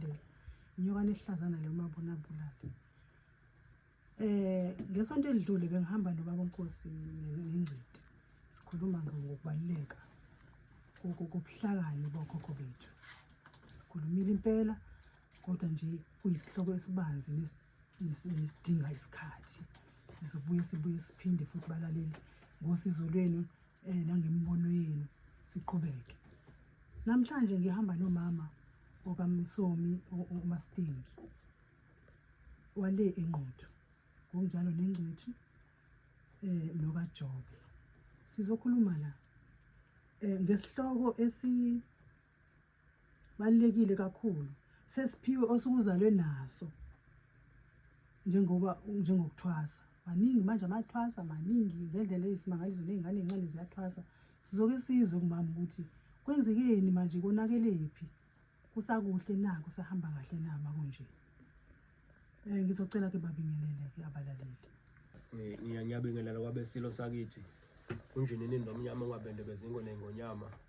Bheka. Nyoka nehlazana le mabona bulala. Eh ngesonto elidlule bengihamba nobaba uNkosi nengcidi. Sikhuluma ngokubaluleka kokubuhlakani bokhokho bethu. Sikhulumile impela kodwa nje kuyisihloko esibanzi nesi nesinye isidinga isikhathi sizobuye sibuye siphinde futhi balaleli ngosizo lwenu um nangemibono yenu siqhubeke namhlanje ngihamba nomama okamsomi umastingi wale enquthu ngokunjalo nengcwethu um nokajobe sizokhuluma la um ngesihloko esi balulekile kakhulu sesiphiwe osukuzalwe naso njengoba njengokuthwasa maningi manje amathwasa maningi ngendlela eyisimangaliso ney'ngane ey'ncane ziyathwasa sizoke sizwe kumama ukuthi kwenzekeni manje konakelephi kusakuhle na kusahamba kahle na makunje um eh, ngizocela ke babingelele-ke abalaleli ngiyabingelela kwabesilo sakithi kunjinini nomnyama ungabendebezingwe nengonyama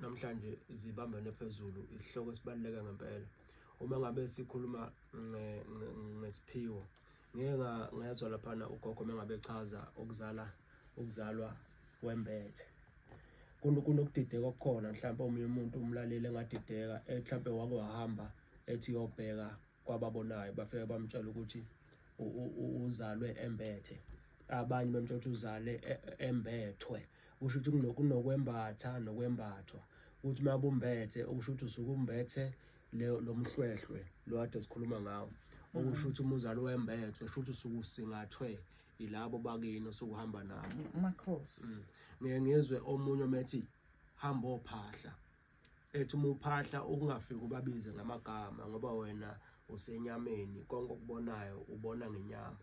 Namhlanje zibambene phezulu isihloko esibaluleke ngempela. Uma ngabe sikhuluma ngesiphiwo ngeke ngezwa laphana ugogo mengabe echaza ukuzala ukuzalwa kwembethe kunokudideka okukhona mhlawumbe omunye umuntu umlaleli engadideka eh, mhlawumbe wake wahamba ethi yobheka kwababonayo bafike bamtshela ukuthi uzalwe embethe abanye bamtshela ukuthi uzale e, e, embethwe kusho ukuthi kunokwembatha nokwembathwa ukuthi uma bumbethe okusho ukuthi usuke umbethe lo mhlwehlwe lo kade sikhuluma ngawo okusho ukuthi uma uzale wembethwe kusho ukuthi usuke usingathwe yilabo bakini osukuhamba nabo amakhosi mm. ngeke ngizwe omunye omethi hamba ophahla ethi uma uphahla ukungafiki ubabize ngamagama ngoba wena usenyameni konke okubonayo ubona ngenyama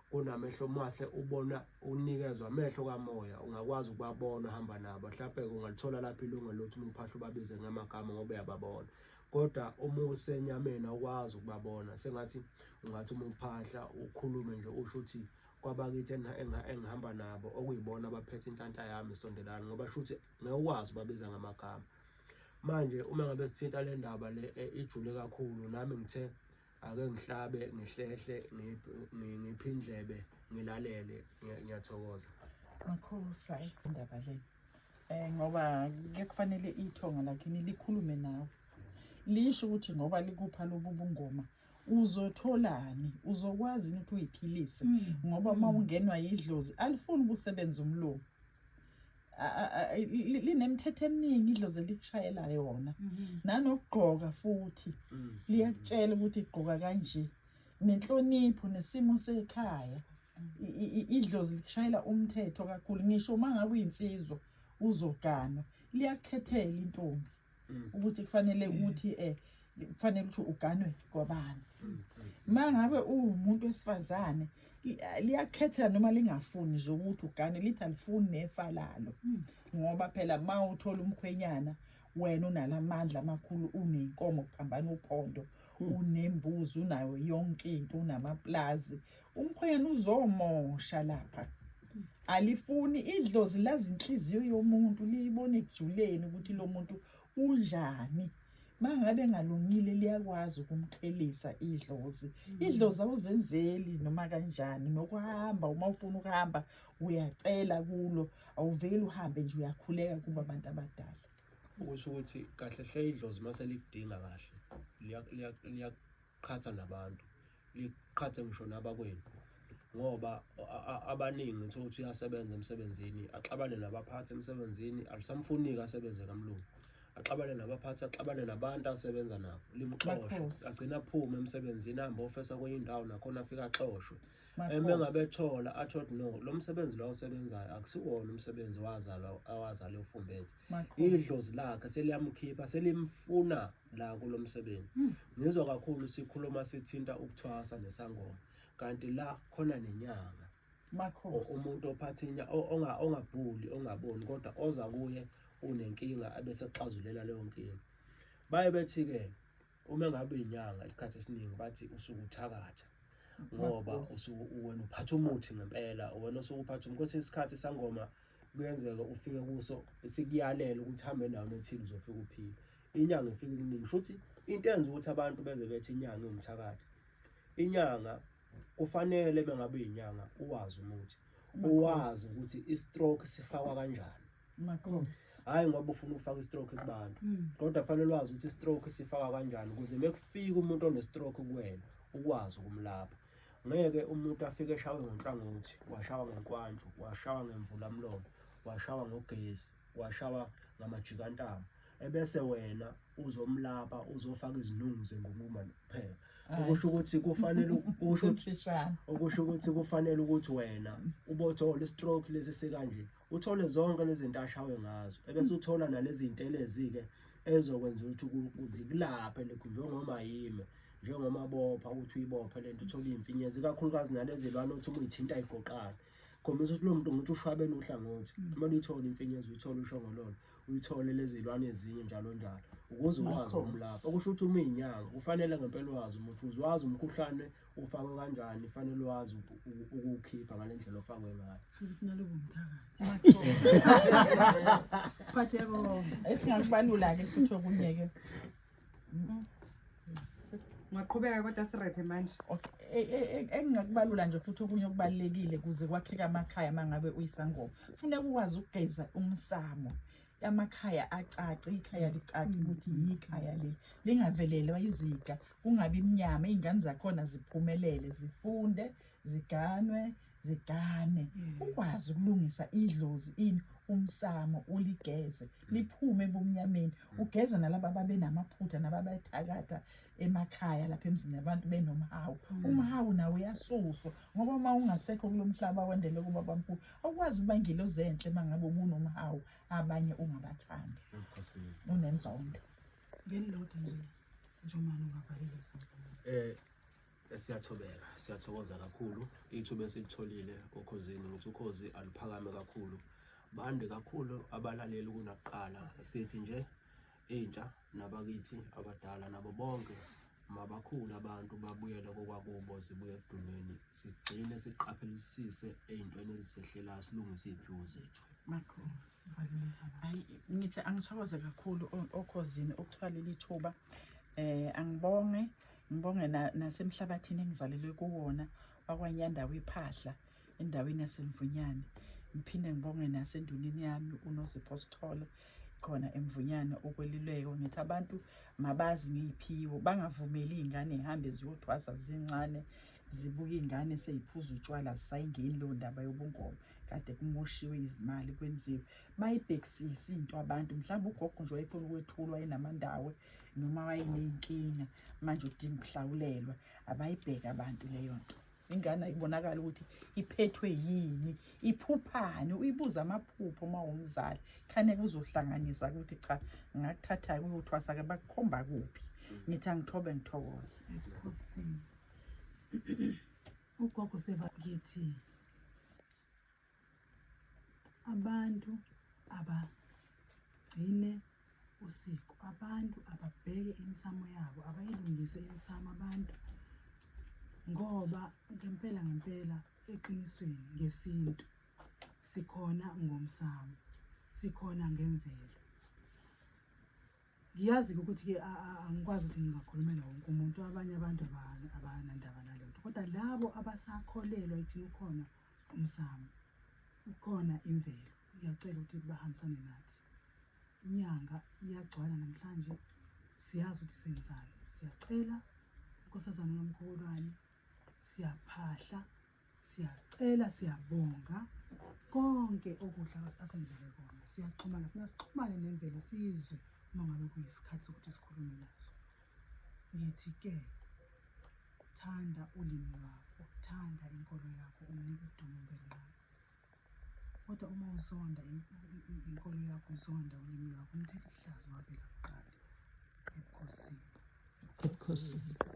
kunamehlo omahle ubona unikezwa amehlo kamoya ungakwazi ukubabona uhamba nabo mhlawumbe ungalithola lapho ilunga lothi uma uphahla ubabize ngamagama ngoba uyababona kodwa uma usenyameni awukwazi ukubabona sengathi ungathi uma uphahla ukhulume nje usho ukuthi kwabakithi engihamba nabo okuyibona abaphethe inhlanhla yami sondelani ngoba shuthi ngeke ukwazi ubabiza ngamagama manje uma ngabe sithinta le ndaba le eh, ijule kakhulu nami ngithe ake ngihlabe ngihlehle ngiphi indlebe ngilalele ngiyathokoza mkhulu sayi indaba le eh ngoba ke kufanele ithonga lakini likhulume nawe lisho ukuthi ngoba likupha lobu bungoma uzotholani uzokwazi ukuthi uyiphilise mm. ngoba uma mm. ungenwa yidlozi alifuni ukusebenza umlomo linemithetho eminingi idlozi elikushayela yona mhm. nanokugqoka futhi mm. liyakutshela ukuthi igqoka kanje nenhlonipho nesimo sekhaya idlozi likushayela umthetho kakhulu ngisho uma ngabe uyinsizwa uzoganwa liyakukhethela intombi mm. ukuthi kufanele ukuthi eh kufanele ukuthi uganwe kwabani mm, mangabe uwumuntu wesifazane liyakhetha noma lingafuni nje ukuthi ugane lithi alifuni nefa lalo hmm. ngoba phela ma uthola umkhwenyana wena unalamandla amakhulu unenkomo kuphambana uphondo hmm. unembuzi unayo yonke into unamaplazi umkhwenyana uzomosha lapha alifuni idlozi lazinhliziyo yomuntu liyibone ekujuleni ukuthi lo muntu unjani mangabe engalungile liyakwazi ukumqhelisa idlozi mm. idlozi awuzenzeli noma kanjani nokuhamba uma ufuna ukuhamba uyacela kulo awuveli uhambe nje uyakhuleka kuba abantu abadala ukusho ukuthi kahle hle idlozi mase likudinga kahle liyaqhatha nabantu liqhathe ngisho nabakwenu ngoba abaningi uthola ukuthi uyasebenza emsebenzini axabane nabaphathi emsebenzini alisamfuniki asebenze kamlungu axabane nabaphathi axabane nabantu asebenza nabo limxoshwe agcina aphume emsebenzini ahambe ofesa kwenye indawo nakhona afike axoshwe eme ngabethola athot no lo msebenzi lo awusebenzayo akusiwona umsebenzi wazalwa awazalwa efumbethe idlozi lakhe seliyamkhipha selimfuna la kulo msebenzi hmm. ngizwa kakhulu sikhuluma sithinta ukuthwasa nesangoma kanti la khona nenyanga makhosi umuntu ophathinya onga ongabhuli ongaboni kodwa oza kuye unenkinga abese xazulela leyo nkinga baye bethi ke uma ngabe inyanga isikhathi esiningi bathi usuku uthakatha ngoba usuku wena uphatha umuthi ngempela wena usuku uphatha umuthi kwesinye isikhathi sangoma kuyenzeka ufike kuso sikuyalela ukuthi hambe nawo nothile uzofika uphile inyanga ifike ikuningi shuthi into enza ukuthi abantu beze bethi inyanga iwumthakathi inyanga kufanele bengabe inyanga uwazi umuthi uwazi ukuthi i-stroke sifakwa kanjani Makhosi. Hayi ngoba ufuna ukufaka i-stroke kubantu. Hmm. Kodwa fanele wazi ukuthi i-stroke sifaka kanjani ukuze mekufika umuntu one-stroke kuwena ukwazi ukumlapha. Ngeke umuntu afike eshawe ngenhlangothi, washawa ngenkwantshu, washawa ngemvula mlomo, washawa ngogesi, washawa ngamajikantamo. ebese wena uzomlapha uzofaka izinungu zengunkuma kuphela okusho ukuthi kufanele usho okusho ukuthi kufanele ukuthi wena ubothola istroke lesi sikanje uthole zonke lezi zinto ashawe ngazo ebese uthola nalezi zinto elezi-ke ezokwenza ukuthi zikulaphe lokhu njengoma yime njengomabopha ukuthi uyibophe le nto uthole iy'mfinyezi ikakhulukazi nalezi lwana othi uma uyithinta igoqane khombisa ukuthi lo muntu ngithi ushwabene uhlangothi uma luyithola imfinyezi uyithola ushongololo uyithole lezilwane ezinye njalo njalo ukuze ukwazi ukumlapha okusho ukuthi uma inyanga kufanele ngempela wazi umuthi uze wazi umkhuhlane ufakwe kanjani fanele wazi ukuwukhipha ngale ndlela ofakwe ngayo sizifunela ubumthakathi phatheko esingakubalula-ke futhi okunye-ke Ngaqhubeka kodwa sirephe manje. E, e, e, engingakubalula nje futhi okunye okubalekile kuze kwakheke amakhaya mangabe uyisangoma. Kufuneka ukwazi ukugeza umsamo. Amakhaya acace, ikhaya licace ukuthi yikhaya leli. Lingavelelwa iziga, kungabi mnyama, izingane zakhona ziphumelele, zifunde, ziganwe, zigane mm. ukwazi ukulungisa idlozi ini umsamo uligeze liphume ebumnyameni mm. ugeze nalabo ababenamaphutha nababethakatha emakhaya lapha emzini abantu benomhawu mm. umhawu nawo uyasuswa ngoba uma ungasekho kulo mhlaba wendele kuba bamkhulu awukwazi ukuba ngilozi enhle uma ngabe ubunomhawu abanye ungabathandi unenzondo ngendoda nje njomani ungavalile sangoma eh Siyathobeka, siyathokoza kakhulu ithuba esilitholile okhozini ukuthi ukhozi aluphakame kakhulu, bande kakhulu abalaleli kunakuqala. Sithi nje intsha nabakithi abadala nabo bonke mabakhulu abantu babuyele kokwakubo zibuye ekudumeni, sigxile siqaphelisise ey'ntweni ezisehlelayo silungise iy'phiwo zethu. Makhosi, hayi ngithi angithokoze kakhulu okhozini ukuthola leli thuba um angibonge Ngibonge nasemhlabathini engizalelwe kuwona wakwanyandawo iphahla endaweni yasemvunyane ngiphinde ngibonge nasendunini yami unozipho sithole khona emvunyana ukweluleko ngithi abantu mabazi ngiyiphiwo bangavumeli iy'ngane y'hambe ziyothwasa zincane zibuke iy'ngane seyiphuza utshwala zisayingeni leyo ndaba yobungoma kade kumoshiwe izimali kwenziwe bayibhekisise into abantu mhlawumbe ugogo nje wayefuna ukwethulwa enamandawo noma wayeney'nkinga manje udinga ukuhlawulelwa abayibheke abantu leyo nto ingane ayibonakala ukuthi iphethwe yini iphuphani uyibuza amaphupho uma wumzali khaneke uzohlanganisa ukuthi cha ngakuthatha-ke uyothwasa-ke bakukhomba kuphi ngithi angithobe ngithokoze ugogo sevakithi Abantu abagcine usiko, abantu ababheke imisamo yabo, abayilungise imisamo abantu ngoba ngempela ngempela eqinisweni ngesintu sikhona ngomsamo, sikhona ngemvelo. Ngiyazi-ke ukuthi-ke angikwazi ukuthi ngingakhulumela wonke umuntu, abanye abantu abanandaba nalento, kodwa labo abasakholelwa ekutheni ukhona umsamo ukhona imvelo ngiyacela ukuthi bahambisane nathi inyanga iyagcwala namhlanje siyazi ukuthi senzani siyacela unkosazana nomkhulwane siyaphahla siyacela siyabonga konke okuhle asenzele kona siyaxhumana funa sixhumane nemvelo sizwe uma ngabe kuyisikhathi sokuthi sikhulume nazo Ngithi ke thanda ulimi lwakho, thanda inkolo yakho, umnike udumo mvelinqaba. Kodwa uma uzonda inkolo yakho, uzonda ulimi lwakho, umthetho ihlazo wavela kuqala ebukhosini. Ebukhosini.